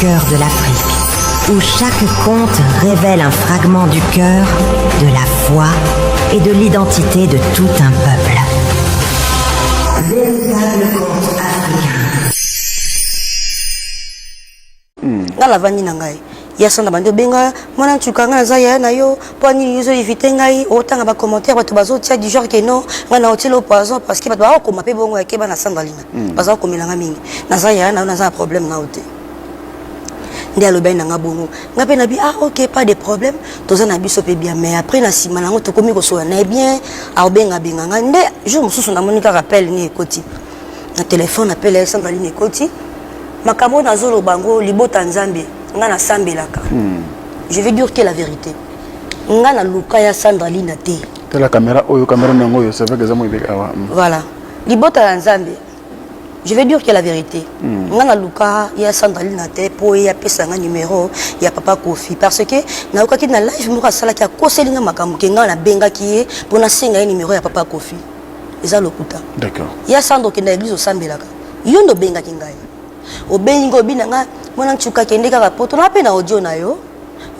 Cœur de l'Afrique, où chaque conte révèle un fragment du cœur, de la foi et de l'identité de tout un peuple. Véritable conte africain. Hmm. Dans la vanille nangai. ya sanda bandi obenga mwana ntuka ngai naza yaya na yo mpo anini ozo evite ngai otanga bacommentaire bato bazotia du genre ke non ngai na otilo poison parce que bato baokoma mpe bongo yakeba na sanda lina mm. baza komela nga mingi naza yaya nayo naza na problème nao te nde alobaki na nga bongo nga mpe nabi ah ok pas de problème toza na biso mpe bien mais après na nsima na yango tokomi kosola na ye bien aobengabenga nga nde jour mosusu namoni kaka appel ni ekoti na telefone appel ya samba lini ekoti makambo oyo nazoloba yango libota nzambe nga nasambelaka mm. je vais dire que la vérité nga naluka ya sandra lina te tala caméra oyo caméra nango oyo c'est vrai que eza moyi beka awa mm. voilà libota ya nzambe je vais dire que la vérité mm. nga na luka ya sandrali na te mpo ye apesa nga numero ya papa kofi parce que nayokaki na live moko asalaki akoseli nga makambo ke nga nabengaki ye mpo nasenga ye numero ya papa kofi eza lokuta ya sandra okenda eglise osambelaka yo nde obengaki ngai obengi nga obina nga mwana ncuka kende kaka poto na mpe na audio na yo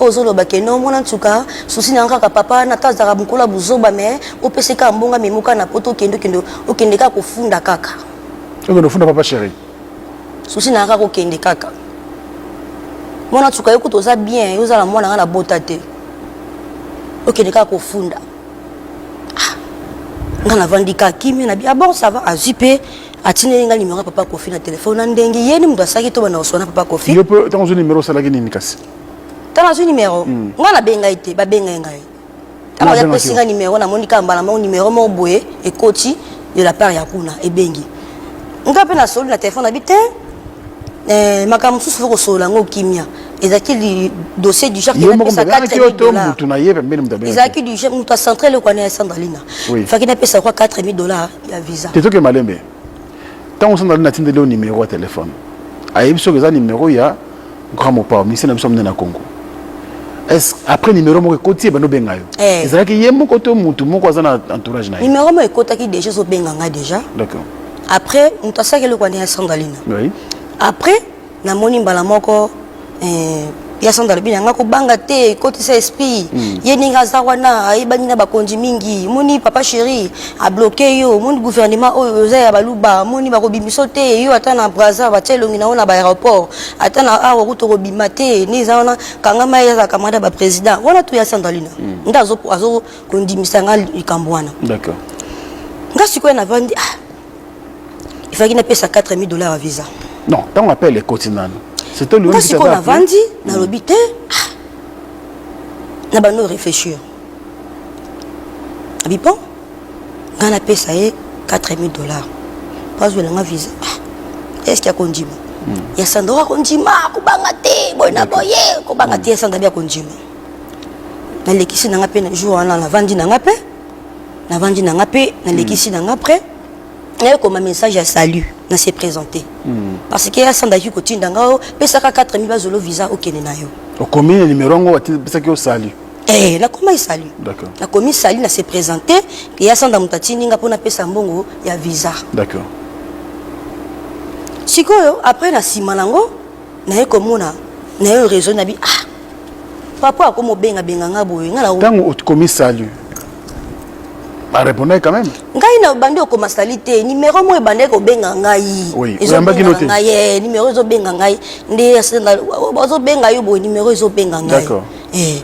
oyo ozoloba ke no mwana nsuka susi na kaka papa wana ata azalaka mokolo ya buzoba me opesi kaka mbongo amemi kaka na poto okende okende okende kaka kofunda kaka okende ofunda papa chéri susi na kaka okende kaka mwana nsuka yo kutu oza bien yo oza na mwana nga na bota te okende kaka kofunda ah, nga navandi kaka kimia na bi abon ah sava azwi mpe atindeli nga numero ya papa kofi na telefone na ndenge ye ni moto asalaki to banda koswana papa kofi yo mpe ntango ozwi numero osalaki nini kasi ntango azwi numero hmm. nga nabenga ye te babenga ye ngai ntango aza pesi nga numero namoni kaka mbala moko numero moko boye ekoti de la part ya kuna ebengi nga mpe nasoli na telefone abi te eh, makambo mosusu fo kosolola yango kimia ezalaki dossier du genre ezalaki du genre moto acentre eloko wana ya sandalina faki napesa kwa 4000 dollars ya visa te toke malembe ntango mosusu nazali natindeli yo nimero ya telefone ayebi soki eza nimero ya grand mopao ministre na biso monene na congo après numéro moko ekoti ebanda obenga yo eh. ezalaki ye moko to motu moko aza na entourage na ye numéro moko ekotaki déjà ezobenga ngai déjà d'accord après moto asalaki eloko wana ya sangalina après namoni mbala moko eh, ya sanda alobi na ngai kobanga te ekotisa esprit mm. ye ndenge aza wana ayebani na bakonzi mingi moni papa chéri abloke yo moni gouvernement oyo oza ya baluba moni bakobimiso te yo ata na braza batya elongi na yo na baaéroport ata na awa kutu okobima te nde eza wana kangama ye azala camarade ya baprésident wana to ya sandalina mm. nde azokondimisa ngai likambo wana nga sikoyo navandi ah, il fallait napesa 4000 dollars ya visa non ntango appel ekoti nano c'était le sikoyo navandi nalobi te ah. na bando réfléchir abi bon ngai napesa ye 4000 dollars mpo azwela nga visa ah. eske akondima hmm. ya sandra akondima kobanga te boye na boye kobanga te ya sandra bi akondima nalekisi na ngai mpe na jour wana navandi na ngai mpe navandi na nga mpe nalekisi na nga après nayekoma message ya salut na se présenter parce que asandaki kotinda nga o pesaka 4000 bazolo visa okende na yo okomi na nimero yango opesaki yo salut Eh, nakoma esali D'accord. nakomi sali na se présente eya sanda moto atindi nga mpo napesa mbongo ya visa d'accord sikoyo après na nsima nango naye komona nayo raison nabi ah papa akomi obenga benga nga boye nga na tango okomi salut barepondaki quand même ngai na bandi okoma sali te nimero moko ebandaki kobenga ngai oyambaki no te ngai eh, nimero ezobenga ngai nde bazobenga yo boye nimero ezobenga ngai eh,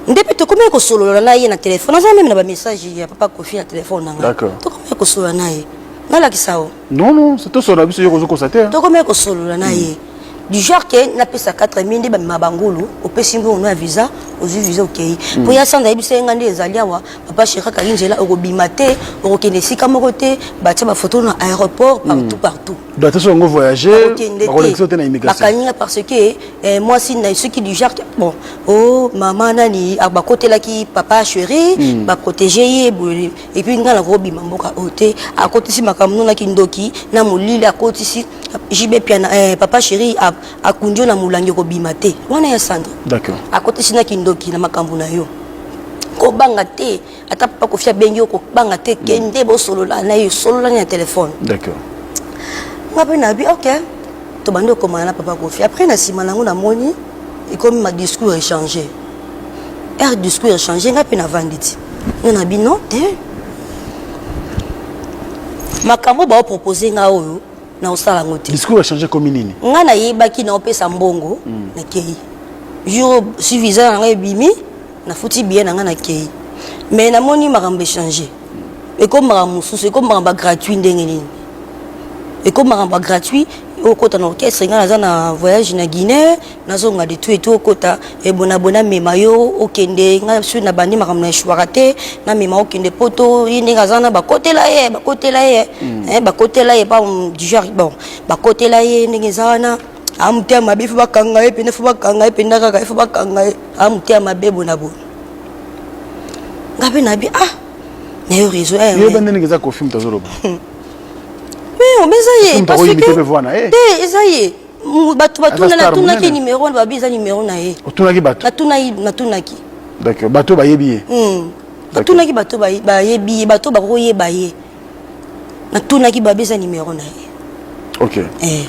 nde mpe tokomaki kosolola na ye na telefone aza meme na bamessage ya papa kofi na telefone na ngai tokomaki kosolola na ye nalakisa o non non c'est tout solo biso yo kozo kosa te toko me ko solola na ye du genre que na pesa 4000 nde ba ma bangulu opesi ngo na visa ozui visa okay hmm. po ya sanda yebisa nga nde ezali awa papa cheka kali njela okobima te okokende sika moko te ba tia ba photo na aéroport hmm. partout partout donc ça ngo voyager ba collection te na immigration bakanyinga parce que eh, moi si na soki du genre bon oh maman nani abakotelaki papa chéri hmm. ba protéger ye epuis ngai nakobima mboka oyo te akotisi makambo nona kindoki na molili akotisi jb piana eh, papa chéri akundi yo na molangi okobima te wana ya sandre akotisi na kindoki na makambo na yo kobanga te ata papa kofi abengi yo kobanga te kende mm. bosolola na ye solola na telefone nga mpe nabi ok tobandi okomana na papa kofi après na nsima nango namoni ekomi madiscours échange heure discours ya change ngai mpe navandi ti nga na bino te makambo baopropose ngai oyo naosala yango te discours ya change komi nini ngai nayebaki naopesa mbongo mm. nakei jour si visa na ngai ebimi nafuti biye na ngai nakei mais namoni makambo echange ekomi makambo mosusu ekomi makambo ya gratuit ndenge nini ekomi makambo ya gratuit okota na orchestre ngai naza na voyage na guinée nazonga de tout et tout okota ebona bona mema yo okende nga sur na bandi makambo na eshwaka te na mema okende poto ye ndenge aza na bakotela ye bakotela ye mm. eh, bakotela ye pa dujour bon bakotela ye ndenge eza wana amotema mabe fo bakanga ye pende fo bakanga ye penda kaka ye fo bakanga ye amotema mabe bona bona nga mpe nabi ah nayo réseau eh, yeba ndenge eza kofi moto azoloba mais omeza ye parce que te eza ye bato batunaki numero wana babi eza numero na ye otunaki bato natunaki d'accord bato bayebi ye hmm. natunaki bato bayebi ye bato bakoyeba ye natunaki babi eza numero na ye ok eh.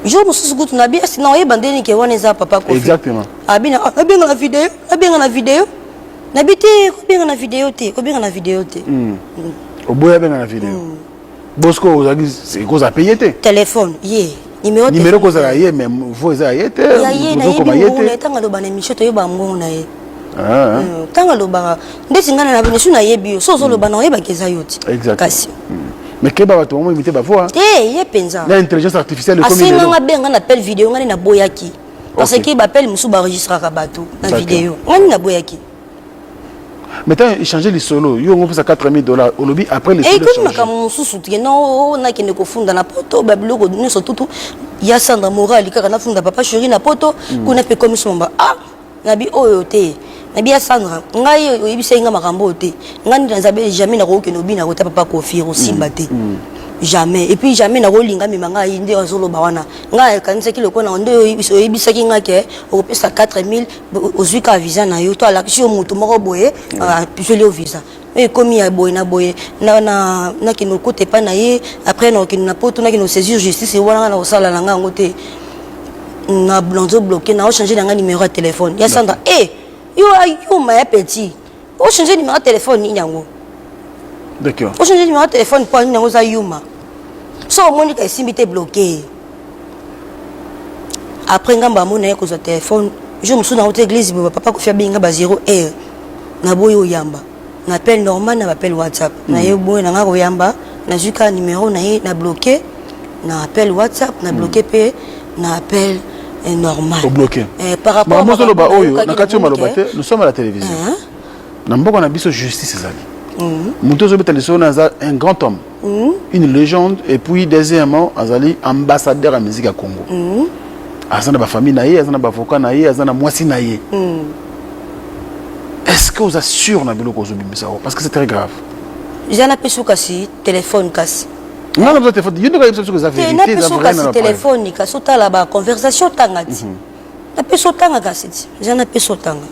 jour mosusu kutu nabi asi na oyeba nde nike wana eza papa kofi exactement abina ah, abenga na video abenga na video nabi te kobenga na video te kobenga na video te hmm. Hmm. oboya abenga na video Bosco ozalaki ekozala mpe ye te telefone ye nimero nimero ekozala ye mais vo eza ya ye te ozokoma ye te ntango aloba na émission toyeba mbongo na ye ah. hmm, ntango alobaka ndeti ngai na misu nayebi yo so ozoloba na oyebaki eza yo te kasi hmm. mais keba bato bango imite bavoa te eh, ye mpenza na intelligence artificielle asenganga be ngai na pele video ngai naboyaki parce que bapele mosusu baregistraka bato na video ngai naboyaki mais ntango echange lisolo yo ongopesa 4000 dollars olobi après lisoloekomi eh, makambo mosusu te no oh, oh, nakende kofunda na poto babiloko nyonso tutu ya sandra morali kaka nafunda papa cheri na poto hmm. kuna mpe komisomba a ah, nabi oyo te nabi ya sandra ngai oyebisaki ngai makambo oyo te ngai nde naza bele jamais nakokokende obi nakota papa kofi ekosimba hmm. te hmm. jamais epuis jamais nakolinga mema ngai nde azoloba wana ngai akanisaki lokola nde oyebisaki ngai ke okopesa 4000 ozwi kaka visa na yo to alakisi yo moto moko boye azweli ah, yo visa oyo ekomi ya boye na boye nakende okota epai na ye après nakokende na poto nakende osaisir justice wana nga nakosala na nga yango te nazo bloke naochange na nga numero ya telefone ya sandra e eh, yo ayuma ya petit o changer numéro téléphone nini yango d'accord o changer numéro téléphone po nini yango za yuma so omoni ka esimbi te bloqué après ngambo amona ye kozwa téléphone jour mosusu nango te église boba papa kofi abenga ba 0 heure naboyi oyamba na appel normal na baappel whatsapp mm. naye boye nanga koyamba nazwi kaka numero na ye na bloqué na appel whatsapp na bloquer pe na appel eh, normal obloquer eh, par rapport à mozoloba oyo na kati maloba te nous sommes à la télévision hein? na mboka na biso justice ezali mhm. moto ozobeta lisolo na aza un grand homme mhm. une légende et puis deuxièmement azali ambassadeur ya musique ya congo mhm. aza na bafamille na ye aza na bavocat na ye aza na mwasi na ye est ce que oza sûr na biloko ozobimisa yango parce que c'est très grave jana pesu kasi telefone kasi nga na telefone yo ndoka yebisa soki eza verite eza vrai na telefone kasi otala ba conversation tanga ti mhm. na peso tanga kasi ti eza na peso tanga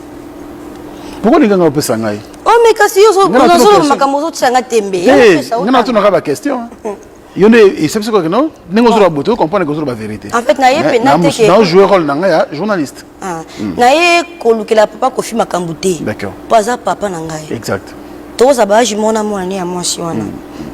pourquoi linga nga opesa ngai oh mais kasi yo zo zo makambo zo tsanga tembe eh, nga na tuna ka ba question mhm. yo nde esepisi koke no ndenge ozoloba boto comprendre ke ozoloba verité en fait nayepe nateke na jouer rôle na ngai ya journaliste Ah, mm. na ye kolukela papa kofi makambo te mpo aza papa na ngai exact tokozala baage mona mwana ne ya mwasi wana mm.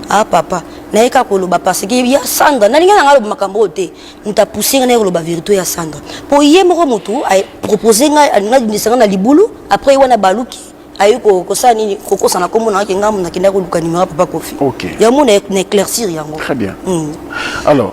ah papa naye kaka koloba parce que ya sandra nalingi nanga aloba makambo oyo te moto apousse ngai naye koloba verité ya sandra mpo ye moko motu apropose ngai alingi abimisa ngai na libulu après ye wana baluki aye kosala nini kokosa na nkombo nayaki ngambo nakenda koluka nimero ya papa kofi yango na éclaircir yango très bien mm. alors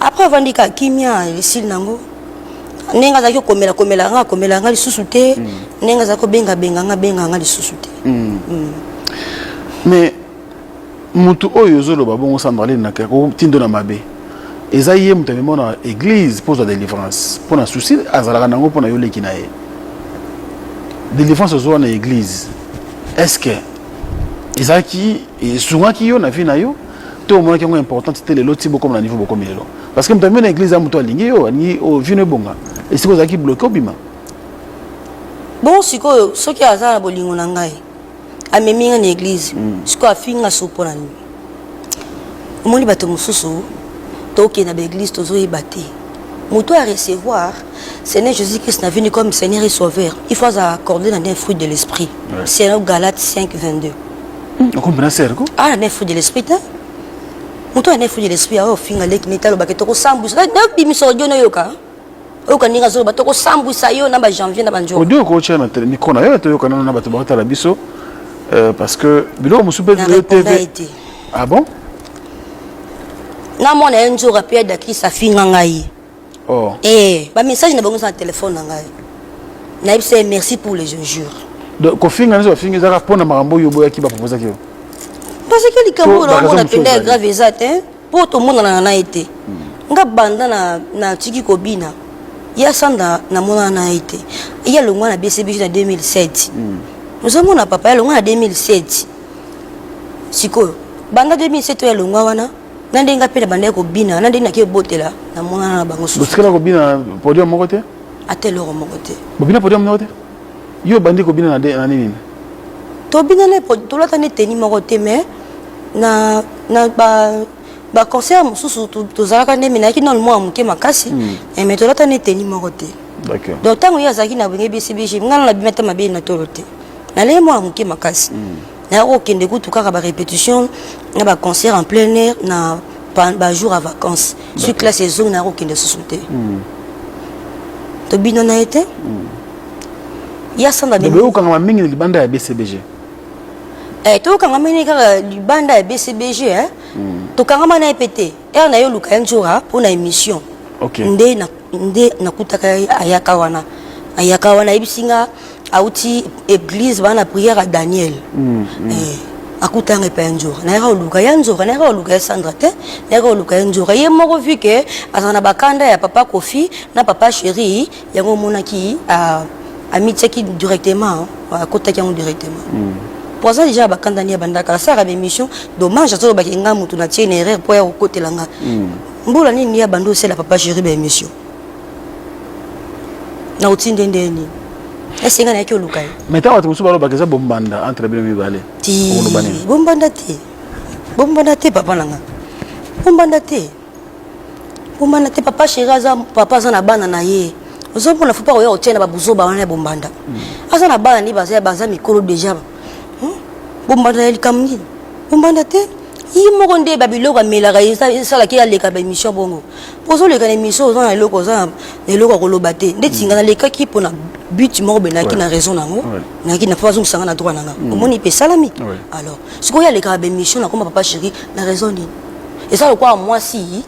après avandi ka kimia esili nango ndenge azalaki okomela komela nga akomela nga lisusu te mm. ndenge azalaki obenga benga nga benga nga lisusu te mm. Mm. mais motu oyo ozoloba bongo sambarline nake akotindo na mabe eza ye moto amema na église mpo ozwa délivrance mpo na souci azalaka nango mpo na yo leki na ye délivrance ozwa na église est ce que ezalaki esungaki yo na vie na yo to omonaki yango importante te lelo ti bokoma na niveau bokomi lelo parce que moto amemi na église ya moto alingi yo alingi oh, vino ebonga esika ozalaki bloke obima bongo sikoyo soki aza na bolingo na ngai amemi ngai na église mm. sikoyo afinga so mpo na nini omoni bato mosusu tokende na baeglise tozoyeba te moto ya recevoir seigneur jésus christ na vini comme seigneur et sauveur il faut aza accordé na nde fruit de l'esprit ouais. selon galate 5 22 hmm, okombe na sere ko ah na efudi l'esprit te moto ya na efudi l'esprit ayo ofinga leki neti alobake tokosambwisa nabimisa odio nayoka oyoka ndenge azoloba tokosambwisa yo na bajanvier na banjoko odio okotya na mikro na yo toyoka nano na bato bakotala biso euh, parce que biloko mosusu mpe tv ah bon namona ye nzoka mpe adakisa afinga ngai oh. eh, ba message na bango eza na telefone na ngai nayebisa ye merci pour les injures donc kofinga nyonso bafingi ezaka mpo na makambo oyo oboyaki bapropozaki yo bazaki likambo oyo naomona mpenza ya grave eza te mpo tomonanaka na ye te hmm. nga banda natiki kobina ya sanda namonana na ye te ye alongwa na bcbg na 2007 hmm. ozomona papa ye alongwa na 2007 sikoyo banda 2007 oyo alongwa wana na ndenge ngai mpe nabandaki kobina na ndenge naki ebotela na monana na bango susuosikala kobina podium moko te ata eloko moko te bobina podium moko te yo obandi kobina na nini tobina na tolata nde teni moko te mais na na ba baconcert mosusu tozalaka nde me nayaki nano mwana moke makasi hmm. eh, me tolata nde teni moko te donc ntango ye azalaki na benge bcbg ngai nabima te mabe na tolo te nalei mwana moke makasi hmm. naya kokende kutu kaka ba répétition na ba concert en plein air na ba jour ya vacances soki classe ezongi naya kokende susu te hmm. tobina na ye te hmm. ya sanda beyokangama mingi na libanda ya bcbg eh, tokanga mini kaka libanda ya bcbg eh? mm. tokangama na ye mpe te ere na ye oluka ye njora mpo na émission okay. nde nakutaka na ayaka wana ayaka wana ayebisi nga auti église bana prière à Daniel mm, mm. Eh, akutanga epai ya nzora nayaka oluka ya nzora nayaka oluka ya sandra te nayaka oluka ya nzora ye moko vu ke azala na bakanda ya papa kofi na papa chéri yango omonaki ah, amitiaki directement ah, akotaki yango directement mm. po aza deja bakanda ni ya bandaka asaka baémission dommage azolobaki nga motu natie na erreur mpo ya kokotela nga mm. mbula nini ya bando osela papa chéri baémission na otinde nde nini esenga nayaki oluka ye mais ntango bato mosusu balobaka eza bombanda entre bino mibale oloba nini bombanda te bombanda te papa na nga bombanda te bombanda te papa chéri aza papa aza na bana na ye ozomona fo mpa koya kotia na babuzoba wana ya bombanda hmm. aza na bana nde baza baza mikolo deja hmm? bombanda ya likambo nini bombanda te ye moko nde babiloko amelaka esalaki aleka baémission bongo ozoleka na émission oza na eloko oza na eloko ya koloba te ndeti nga nalekaki mpo na but moko boye nayaki na raison na yango nayaki na mpo bazongisa nga na droit na nga mm. omoni mpe esalami alors sikoyo alekaka baémission nakoma papa chéri na raison nini eza lokola mwasi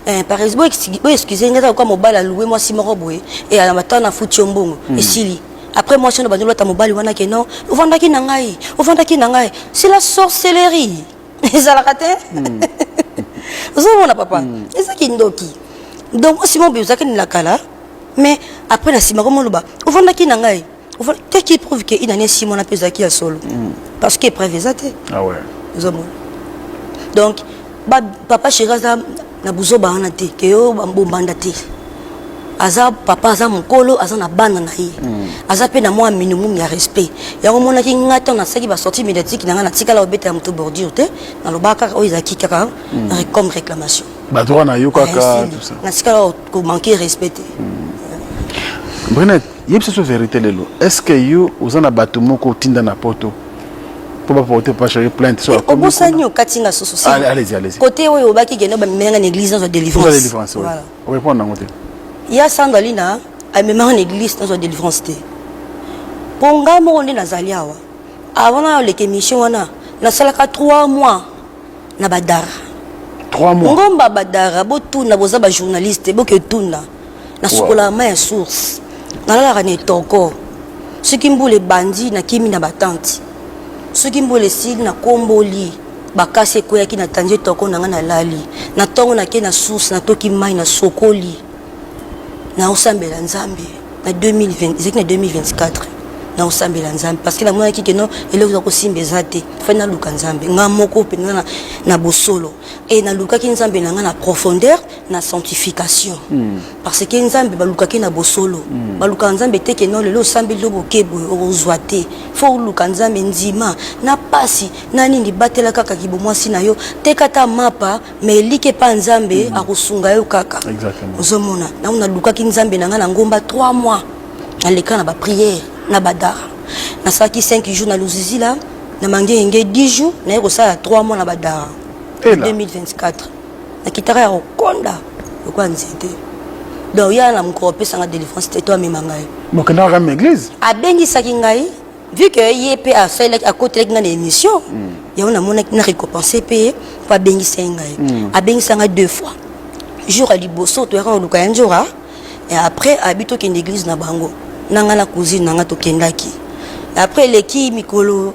Eh, par exemple bo excuse nga eza lokola mobali aloue mwasi moko boye e na matanga na futi yo mbongo mm. esili après mwasi ono bandolata mobali wana ke non ovandaki na ngai ovandaki na ngai c'est la sorcellerie ezalaka te hmm. ozomona papa hmm. eza kindoki donc osi mobi ozalaki nila kala mais après na nsima komo oloba ofandaki na ngai te ki prouve ke inani esi mwana mpe ezalaki ya solo hmm. parce que épreuve eza te ah ozomona donc papa chéri aza na buzoba wana te ke yo bombanda te aza papa aza mokolo aza na bana na ye hmm. aza mpe na mwa minimum ya respect yango omonaki ngai ntango nasalaki basortie médiatique na ngai natikala obetela moto bordure te nalobaka kaka oyo ezalaki kaka hmm. comme réclamation badroit na yo kaka natikala komanke respect te hmm. yebisa biso verité lelo est ce que yo oza na bato moko otinda na poto mpo baporte bapashaki plainte so obosani okati nga susu kote oyo obaki kende bamemela nga na église nazwa délivrance orépondre yango te ya sandra lina amemaka na église nazwa délivrance te mpo ngai moko nde nazali awa avant na oleka émission wana nasalaka 3 mois na badara trois mois ngomba badara botuna boza ba journaliste boke tuna nasukolaka mai ya source nalalaka na etoko soki mbula ebandi nakimi na batante soki mbula esili nakomboli bakasi ekweyaki na tandi etoko na ngai nalali na ntongo nake na source natoki mai nasokoli naosambela nzambe na 2020 ezalaki na 2024 nakosambela nzambe parce que namonaki ke no eloko eza kosimba eza te fai naluka nzambe nga moko mpenza na, na bosolo e nalukaki nzambe na nga na profondeur na sanctification mm. parce que nzambe balukaki na bosolo mm. balukaka nzambe te ke no lelo osambeli yo boke boye okozwa te fo oluka nzambe ndima na pasi na nini batela kaka kibomwasi na yo teka ata mapa mais eliki epa nzambe mm -hmm. akosunga yo kaka ozomona nango nalukaki nzambe na ngai na ngomba 3 mois naleka na bapriere na badara nasalaki 5 jours na luzizila na mangenge 10 jours naye kosala 3 mois na badara 2024 nakitaka ya kokonda lokola nzete donc ya na mokolo apesanga delivrance te to amema ngai abengisaki ngai vu que ye mpe asalelaki akotelaki ngai na émission mm. yango namonaki na récompense mpe ye mpo abengisa ye ngai mm. abengisa ngai deux fois jour ya liboso toyaka koluka ya njora et après abi tokende église na bango na ngai na cousine na ngai tokendaki après eleki mikolo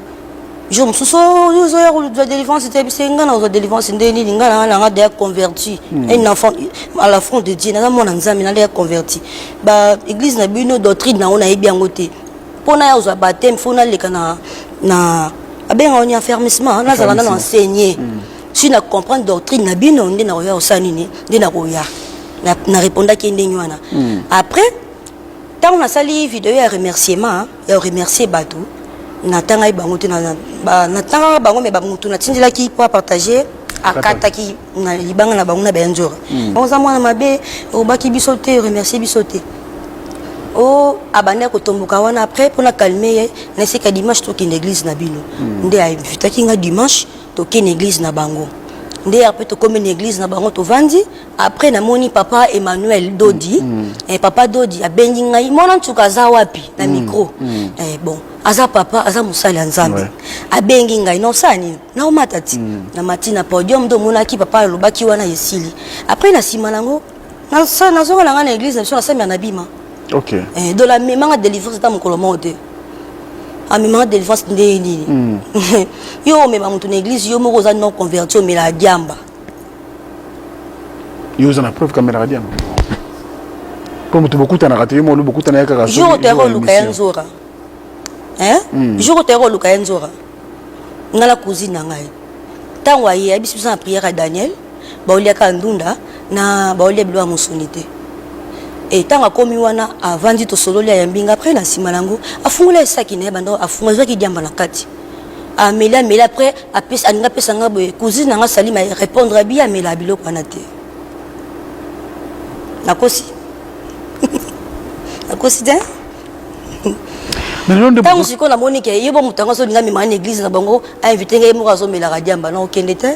jour mosusu ozoya kozwa délivrance te bise ngai nakozwa délivrance nde nini ngai na ngai na ngai deya converti hmm. un enfant à la front de dieu naza mwana nzambe na deya converti ba église na bino doctrine na yango nayebi yango te mpo naya kozwa bateme fo naleka na, na abenga oni affermissement nazala nano enseigné mm. si na comprendre doctrine na bino nde nakoya kosala nini nde nakoya na répondaki ye ndenge wana mm. après ntango nasali video ya remerciement ya remercier bato natangaki bango te natangaka bango me bamotu natindelaki mpo apartage akataki na libanga na bango na bayanzora hmm. oza mwana mabe obaki biso te remercie biso te o oh, abandaki kotomboka wana après mpona calme ye na esika dimanche tokende église na bino hmm. nde ainvitaki nga dimanche tokende église na bango nde après tokomi na église na bango tovandi après namoni papa emmanuel dodi mm. mm. eh, papa dodi abengi ngai mwana nsuka aza wapi na mm. micro mm. Eh, bon aza papa aza mosali ya nzambe ouais. abengi ngai na osala nini naomata ti mm. na mati na podium nde omonaki papa alobaki wana esili après na nsima nango nazonga na ngai na église na biso nasambela na bima okay. eh, donc amemanga délivrance ata mokolo moko te amemanga délivrance ndenge nini mm. yo omema moto na église yo moko oza non converti omelaka diamba yo oza na preuve kamelaka diamba mpo moto bokutanaka te yo molo bokutana ya kaka jour otayaka oluka ya nzora jour otayaka oluka ya nzora nga na cousine na ngai ntango aye ayebisi biso na priere ya daniel baoliaka ndunda na baolia bilo ya mosuni te ntango akomi wana avandi tosololi ayambi nga apres na nsima na yango afungola esaki na ye banda afunga ezwaki diamba na kati ameli ameli apres alingi apesa nga boye cousine na nga salima répondre abi amela biloko wana te nakosi nakosi te ntango sikoyo namoni ke ye bo moto yango azolinga mema na église na bango ainvite ngai ye moko azomelaka diamba na okende te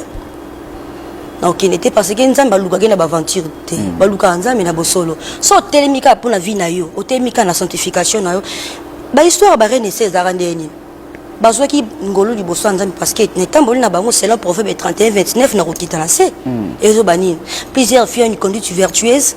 na okende te parce que nzambe alukaki na baaventure te hmm. balukaka nzambe na bosolo so otelemi kaka mpo na vie na yo otelemi kaka na sanctification na yo bahistoire ya barene ese ezalaka ndenge nini bazwaki ngolu liboso ya nzambe parce que na etamboli na bango selon proverbe 31 29 na kokita na se hmm. ezoba nini plusieurs filles une conduite vertueuse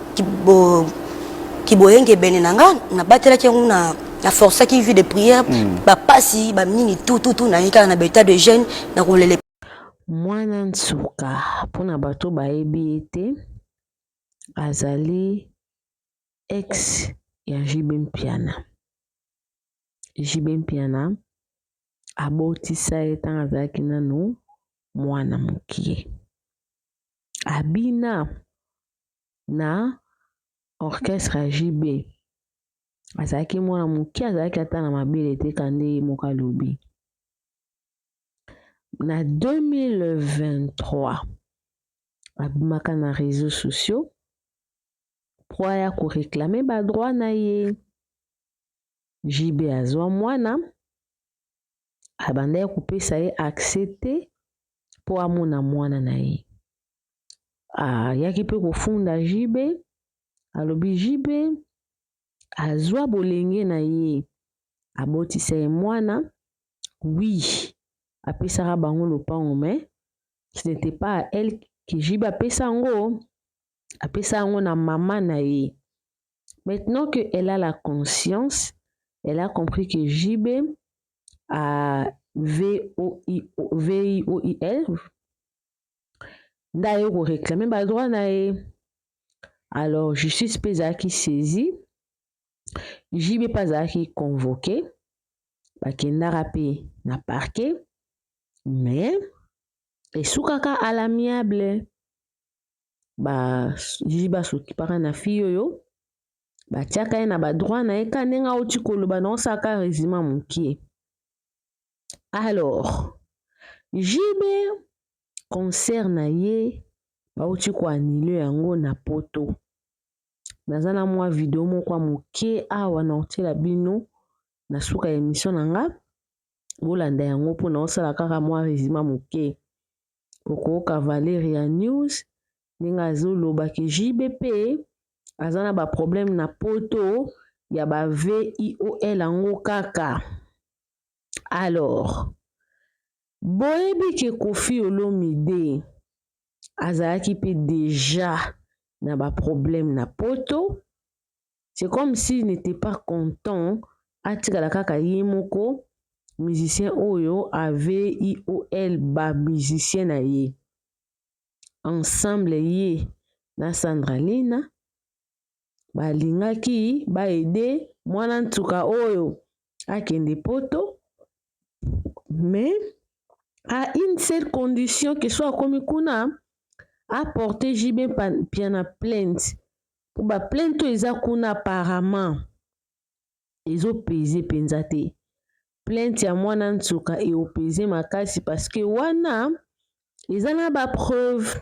kiboyengebene na nga nabatelaki yango na na forçaki vie de prière mm. bapasi bamingi tututu naye kaka na baetat de jeune na kolele mwana nsuka mpo na bato bayebi ye te azali ex ya JB Mpiana. JB Mpiana abotisa ye ntango azalaki nanu mwana mokie. Abina na orchestre ya JB. Azalaki mwana moke, azalaki ata na mabele te ka nde ye moko alobi. Na 2023 abimaka na réseaux sociaux mpo aya koreklame badroit na ye. JB azwa mwana abandaki kopesa ye accès te mpo amona mwana na ye. ayaki mpe kofunda JB alobi JB azwa bolenge na ye abotisa ye mwana oui apesaka bango lopango mais ce n'était pas à elle que JB apesa yango apesa yango na mama na ye maintenant que elle a la conscience elle a compris que JB a V-O-I-O-I-L nde aye ko reclame ba droit na ye alors justice mpe ezalaki saisi JB mpe azalaki convoqué bakendaka mpe na parquet mais esukaka à l'amiable ba JB basokipaka na fille oyo batiaka ye na ba droit na ye ka ndenge awuti koloba na osala ka rezima mokie Alors, JB concert na ye bauti koanile yango na poto. Naza na mwa video moko ya moke awa na kotiela bino na suka ya emission na nga bolanda yango mpo naosala kaka mwa resima moke okooka valere ya news ndenge azoloba ke JB mpe aza na baproblème na poto ya ba VIOL yango kaka. Alors, boyebi ke Koffi Olomide azalaki mpe deja na ba problème na poto, c'est comme s'il n'était pas content atikala kaka ye moko musicien oyo AVIOL ba musicien na ye ensemble ye na Sandra Lina balingaki ba aider mwana nsuka oyo akende poto mais à une seule condition que soit akomi kuna aporte JB Mpiana plainte mpo ba plainte oyo eza kuna apparemment ezopeze mpenza te plainte ya mwana nsuka eopeze makasi parce que wana eza na ba preuve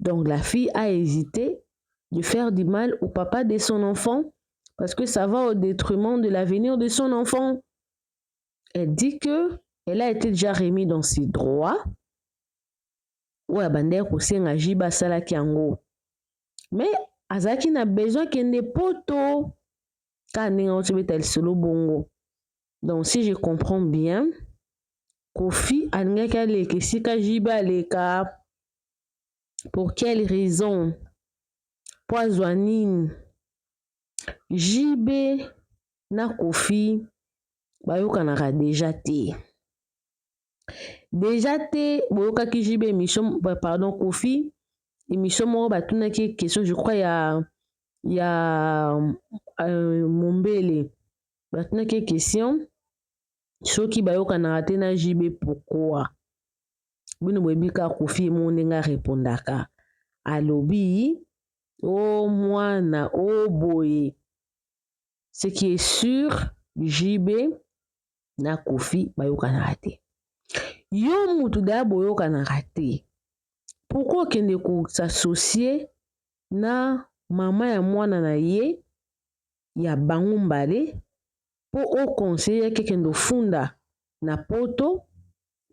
Donc la fille a hésité de faire du mal au papa de son enfant parce que ça va au détriment de l'avenir de son enfant. Elle dit que elle a été déjà remis dans ses droits. oyo abandaki kosenga jibe asalaki yango mais azalaki na besoin akende poto kaka ndenge auti obeta lisolo bongo donc si je comprends bien kofi alingaki aleka esika jibe aleka pour quelle raison mpo azwa nini JB na Koffi bayokanaka deja te deja te boyokaki JB emission pardon Koffi emission moko batunaki ye question je crois ya ya euh, mombele batunaki ye question soki bayokanaka te na JB pourquoi bino boyebi ka kofi ye moko ndenge arepondaka alobi o oh, mwana o oh, boye ce qui est sur jb na kofi bayokanaka te yo mutu daya boyokanaka te pourkui okende kosasocie na mama ya mwana na ye ya bango mbale po o conseiller ye akende ofunda na poto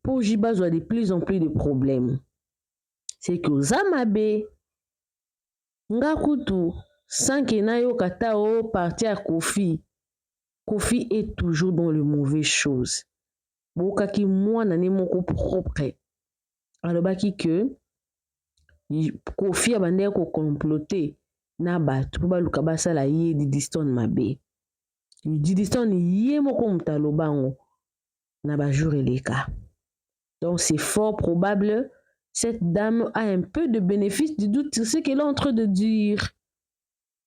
po JB azwa de plus en plus de problème ce que oza mabe nga kutu sans que nayoka ata o parti ya Koffi Koffi est toujours dans le mauvais chose boyokaki mwana ne moko propre alobaki que Koffi abandaki ko comploter na bato po baluka basala ye Didistone mabe. Didison ye moko moto aloba yango na ba jour eleka donc c'est fort probable cette dame a un peu de bénéfice du doute sur ce qu'elle est en train de dire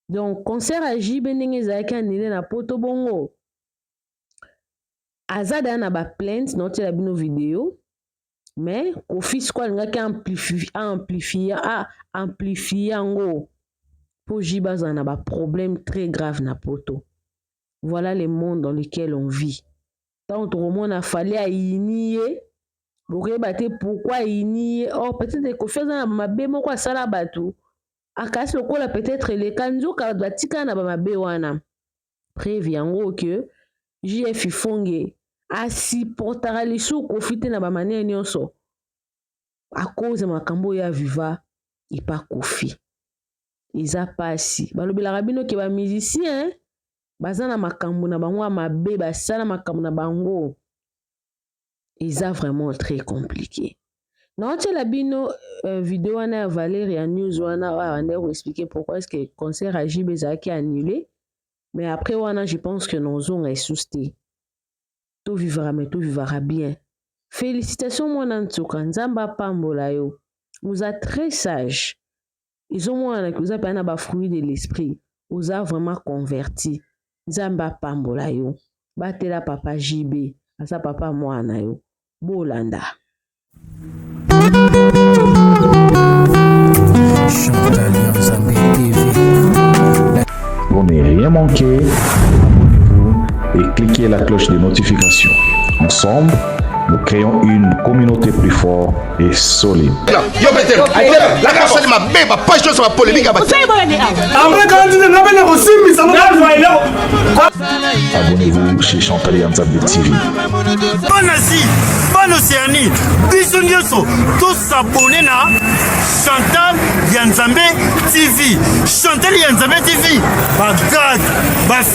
donc concert ya jb ndenge ezalaki anile na poto bongo aza daya na baplainte naotyela bino video mais kofi siko alingaki amplifie amplifie yango mpo jibe azala na baproblème très grave na poto voilà le monde dans lequel on vit ntango tokomona fali ayini ye bokoyeba te pourkui ayini ye or peut-être kofi aza na mabe moko asala bato akasi lokola peut-être eleka nzoka bato batikala na bamabe wana preuve yango que JF Fonge a supportaka lisusu Koffi te na ba manière nyonso à cause ya makambo oyo ya Viva epa Koffi eza pasi balobelaka bino ke ba musicien baza na makambo na bango ya mabe basala makambo na bango eza vraiment très compliqué naotyela bino uh, video wana ya valeria news wana abandaki ah, koexplike pourquoi est ce que concert ya jb ezalaki annulé mais après wana je pense que nozonga esusu te tovivaka me tovivaka bien félicitation mwana nsuka nzambe apambola yo oza très sage ezomonana ke oza mpenza na bafruit de l'esprit oza vraiment converti nzambe apambola yo batela papa jb aza papa mwana na yo bolanda Pour ne rien manquer, abonnez-vous et cliquez la cloche de notification. Ensemble, nous créons une communauté plus forte et solide. Abonnez-vous chez Chantal Yanzambe TV. Bonne Asie, bonne Océanie, bisous nyoso, tous s'abonner na Chantal Yanzambe TV. Chantal Yanzambe TV, ba grade, ba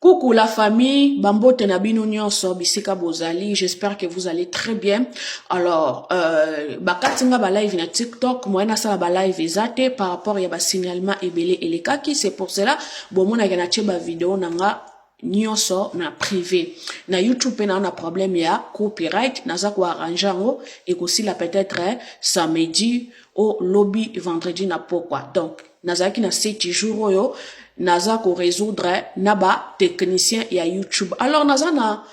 Coucou la famille, bambote na bino nyonso bisika bozali, j'espère que vous allez très bien. Alors, euh, bakati nga ba live na TikTok, moyen nasala ba live eza te par rapport ya ba signalement ebele elekaki, c'est pour cela bomonaka na tie ba video na nga nyonso na privé na youtube mpe nao na problème ya copyright naza koarrange yango ekosila peut-être samedi o lobi vendredi na pokwa donc nazalaki na seti jour oyo naza ko résoudre na ba technicien ya youtube alors naza na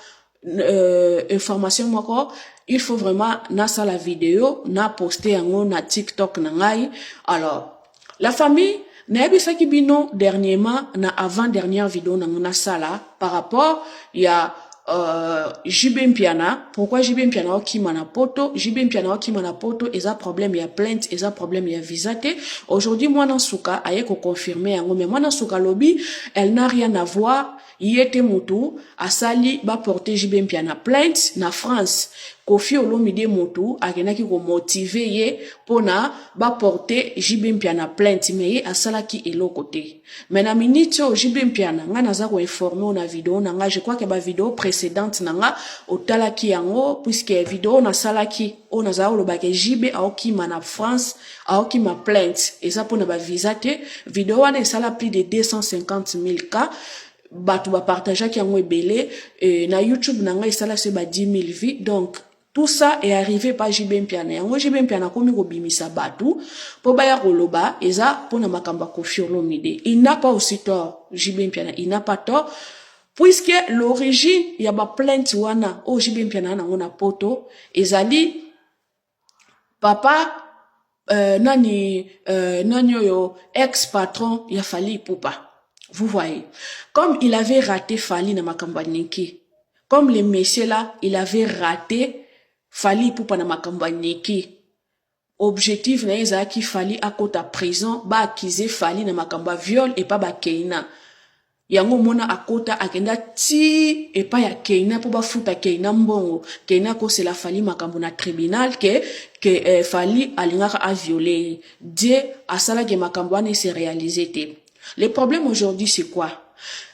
euh, information moko il faut vraiment nasala video na poste yango na tiktok na ngai alors la famille nayebisaki bino dernièrement na avant dernière video nango nasala par rapport ya euh, JB Mpiana pourquoi JB Mpiana okima na poto JB Mpiana okima na poto eza problème ya plainte eza problème ya visa te aujourd'hui mwana suka aye ko confirmer yango mais mwana suka lobi elle n'a rien à voir ye te mutu asali ba porter JB Mpiana plainte na France kofi olomide motu akendaki komotive ye mpo na baporte jb mpiana plainte me ye asalaki eloko te Mais na minute oyo JB Mpiana nga naza ko informer yo na video na nga je crois que ba video précédente na nga otalaki yango puisque video nasalaki oyo nazala koloba ke JB aokima na France aokima plainte eza mpona ba visa te video wana esala plus de 250 000 cas bato bapartageaki yango ebele euh, na youtube na ngai esala se ba 10 000 vues donc Tout ça est arrive par JB Mpiana. Yango JB Mpiana akomi kobimisa batu po baya koloba eza pona makambo ya Koffi Olomide. Il n'a pas aussi tort JB Mpiana, il n'a pas tort puisque l'origine ya ba plainte wana oyo JB Mpiana nango na poto ezali papa euh, nani euh, nani oyo ex patron ya fali ipupa vous voyez comme il avait raté fali na makambo ya niki comme le monsieur là il avait raté fali ipupa na makambo ya niki objectif na ye ezalaki fali akota prison baakize fali na makambo ya viol epa bakeina yango omona akota akenda ti epai ya keina mpo bafuta keina mbongo keina akosela fali makambo na tribunal ke ke eh, fali alingaka aviole ye die asalaki makambo wana ese réalise te le problème aujourd'hui c'est quoi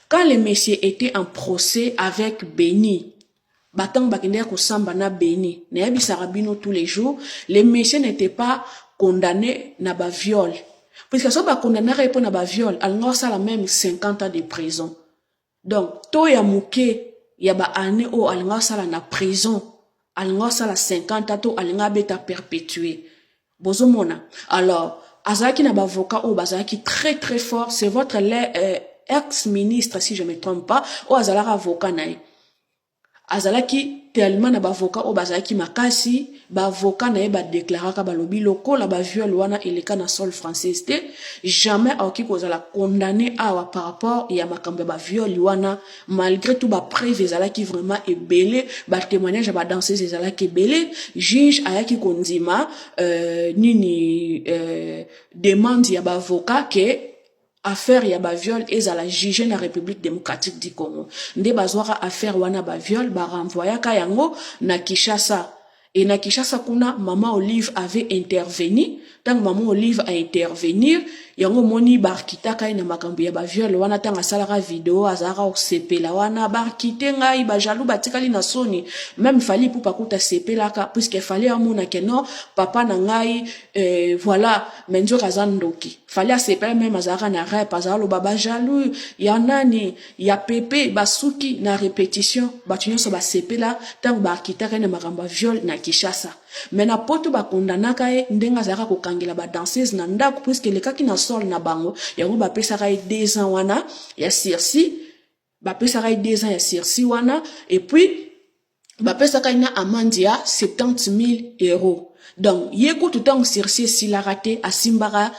quand le monsieur était en procès avec beni ba tango bakendaki kosamba na beni nayebisaka bino tous les jours le monsieur n'était pas condamné na ba viol puisque soki bakondanaka ye mpo na ba viol alinga kosala meme 50 ans de prison donc to ya moke ya ba année oyo alinga kosala na prison alinga kosala 50 ans to alinga abeta perpétue bozomona alors azalaki na bavoka oyo bazalaki très très fort c'est votre euh, ex ministre si je me trompe pas oyo azalaka avoka na ye azalaki tellement na bavoka oyo bazalaki makasi bavoka na ye badeklaraka balobi lokola baviole wana eleka na sol française te jamais akoki kozala condamne awa par rapport ya makambo ya baviole wana malgre tout ba preuve ezalaki vraiment ebele ba témoignage ya ba danseuse ezalaki ebele juge ayaki kondima euh, nini euh, demande ya baavocat ke affaire ya baviole ezala juge na république démocratique du congo nde bazwaka affaire wana baviole barenvoyaka yango na kinshasa Et na Kinshasa kuna maman Olive avait intervenu tango maman Olive a intervenir yango moni barkitaka ye na makambo ya ba viol wana tango asalaka video azalaka kosepela wana barkite ngai ba jaloux batikali na soni même fali ipupa kuta asepelaka puisque fali amona ke non papa na ngai euh, voilà mais nzoka aza ndoki fali asepela meme azalaka na rep azalaka loba ba jaloux ya nani ya pepe basuki na repetition bato nyonso basepela ntango baakitaka ye na makambo ya viol na kinshasa me na poto bakondanaka ye ndenge azalaka kokangela badanseuse na ndako puiske elekaki na sol na bango yango bapesaka ye deux ans wana ya sursi bapesaka ye deux ans ya sursi wana epuis bapesaka ye na amande ya 70 000 euros donc ye kutu ntango sursis esilaka te asimbaka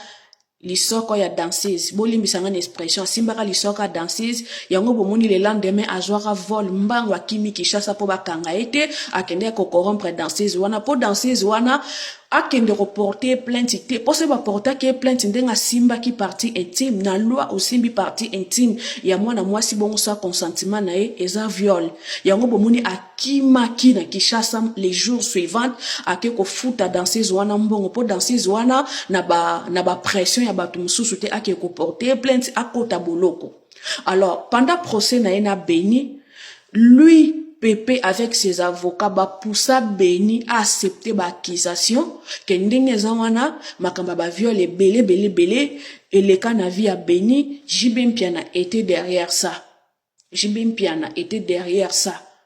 lisoko ya danseuse bolimbisa ngai na expression asimbaka lisoko ya danseuse yango bomoni le lendemain azwaka vol mbango akimi kinshasa mpo bakanga ye te akendeki kokorompre danseuse wana mpo danseuse wana akende ko porter ye plainte te mpo soki baportaki ye plainte ndenge asimbaki partie intime na loi osimbi partie intime ya mwana mwasi bongo sa consentiment na ye eza viol yango bomoni akimaki na Kinshasa les jours suivants ake kofuta danseuse wana mbongo mpo danseuse wana na ba na ba pression ya bato mosusu te ake koporter ye plainte akota boloko alors pendant procès na ye na beni lui pepe avec ses avocats bapusa beni aaccepte baaccusation ke ndenge eza wana makambo ya baviole ebele ebele ebele eleka na vie ya beni jb mpiana était derrière ça jb mpiana était derrière ça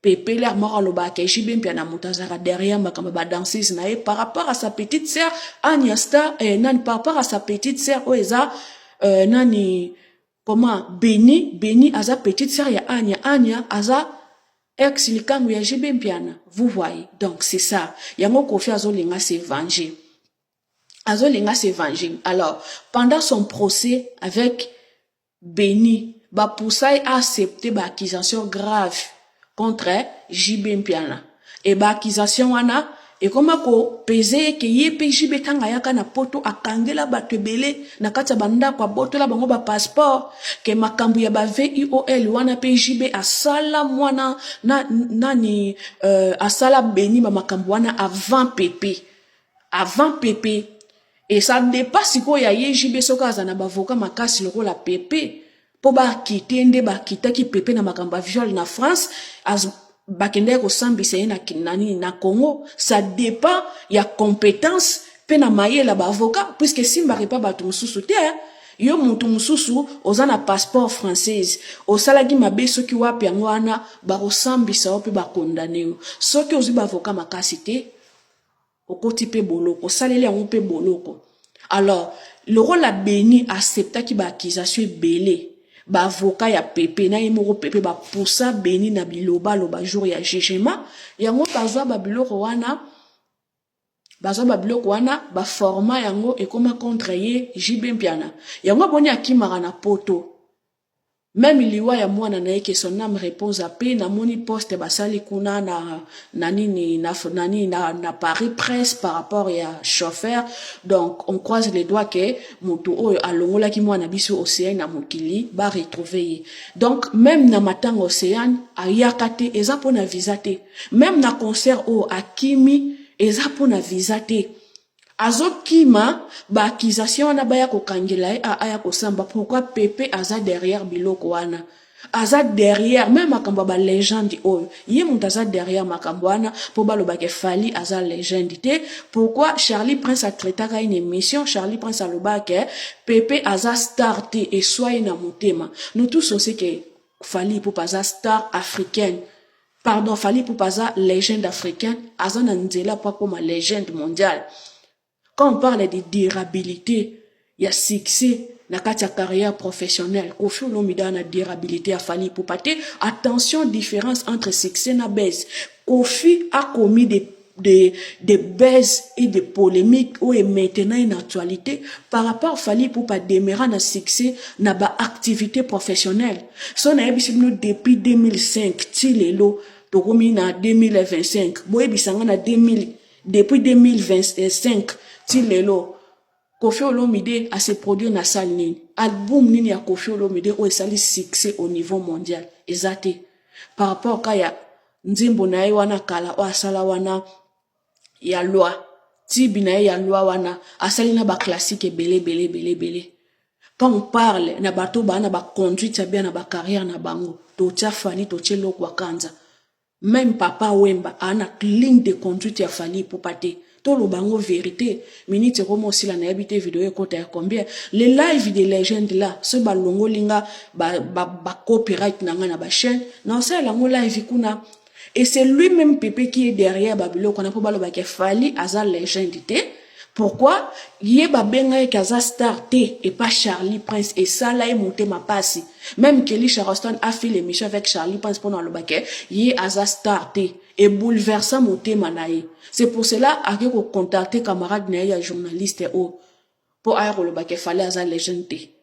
pepeler moko alobaka ke JB Mpiana moto azalaka derrière makambo ba danseuse na ye par rapport à sa petite sœur Anya Star eh, nani par rapport à sa petite sœur oyo eza euh, nani comment Beni Beni aza petite sœur ya Anya Anya aza ex likangu ya JB Mpiana vous voyez donc c'est ça yango Koffi azolinga se venger azolinga se venger alors pendant son procès avec Beni ba poussa ye a accepter ba accusations graves contre JB Mpiana et ba accusations wana ekoma ko peser ye que ye pe JB tango ayaka na poto akangela batu ebele na kati ya ba ndaku abotola bango ba passeports que makambu ya ba VIOL wana pe JB asala muana na nani euh asala Beni ba makambu wana avant Pepe avant Pepe Et ça dépasse sikoyo ya ye JB soki aza na bavoka makasi lokola Pepe mpo bakite nde bakitaki Pepe na makambo ya viol na France az, bakendaki kosambisa ye na, na nini na Congo ça dépend ya compétence mpe na mayele ya bavoka puisque esimbaka epa bato mosusu te yo moto mosusu oza na passeport française osalaki mabe soki wapi yango wana bakosambisa yo mpe bakondane yo soki ozwi bavoka makasi te okoti pe boloko osaleli yango pe boloko alors lokola beni acceptaki ba accusation ebele ba avocat ya pepe na ye moko pepe ba poussa beni na bilobaloba jour ya jugement yango bazwa ba biloko wana bazwa ba biloko wana ba forma yango ekoma contre ye jb mpiana yango aboni akimaka na poto Meme liwa ya mwana na ye que son ame repose en paix namoni poste basali kuna na na nini na na nini na, na Paris presse par rapport ya chauffeur donc on croise les doigts que mutu oyo alongolaki mwana biso Ocean na mokili ba retrouver ye donc meme na matanga Ocean ayaka te eza pona visa te meme na concert oyo akimi eza pona visa te Azo kima ba accusation wana baya ko kangela ye a aya kosamba pourquoi pepe aza derrière biloko wana aza derrière meme makambo ya ba legende oyo ye moto aza derrière makambo wana po baloba ke Fally aza legende te pourquoi Charlie Prince a traitaka ye na emission Charlie Prince aloba ke pepe aza star te eswa ye na motema nous tous on sait que Fally Ipupa aza star africaine Pardon Fally Ipupa aza legende africaine, aza na nzela mpo akoma legende mondiale. Quand on parle de durabilité ya succès na kati ya carrière professionnelle, Koffi Olomide aza na durabilité ya Fally Ipupa te. Attention différence entre succès na buzz. Koffi akomi de de, de baise et de polemique ou est maintenant une actualité par rapport Fally pour pas demeura na succès na ba activité professionnelle so na yebisi bino depuis 2005 ti lelo tokomi na 2025 boyebisa nga na 2000 depuis 2025 ti lelo Koffi Olomide a se produire na salle nini? Album nini ya Koffi Olomide oyo esali succès au niveau mondial? Eza te. Par rapport ka ya nzembo na ye wana kala oyo asala wana ya loi tibi na ye ya loi wana asali na ba classique ebele ebele ebele ebele quand on parle na bato baa na ba conduite ya bien na ba carrière na bango totia fani totie lokwa kanza Meme papa wemba a na ligne de conduite ya Fally Ipupa te. Toloba yango verite. Minute ekoma osila nayebi te video ekota ya combien. Le live de legende là soki balongoli nga ba, ba, ba copyright na nga na ba chaîne na osalela yango live kuna et c'est lui-même Pepe qui est derrière ba biloko wana mpo balobaka Fally aza legende te. Pourquoi ye ba benga ye kaza star te et pas Charlie Prince et ça là est monté ma passe même Kelly Charleston a fait l'émission avec Charlie Prince pour aloba que ye aza star te et bouleversa motema na ye c'est pour cela a ko contacter camarade na ye ya journaliste o pour aya ko loba que fallait aza legende te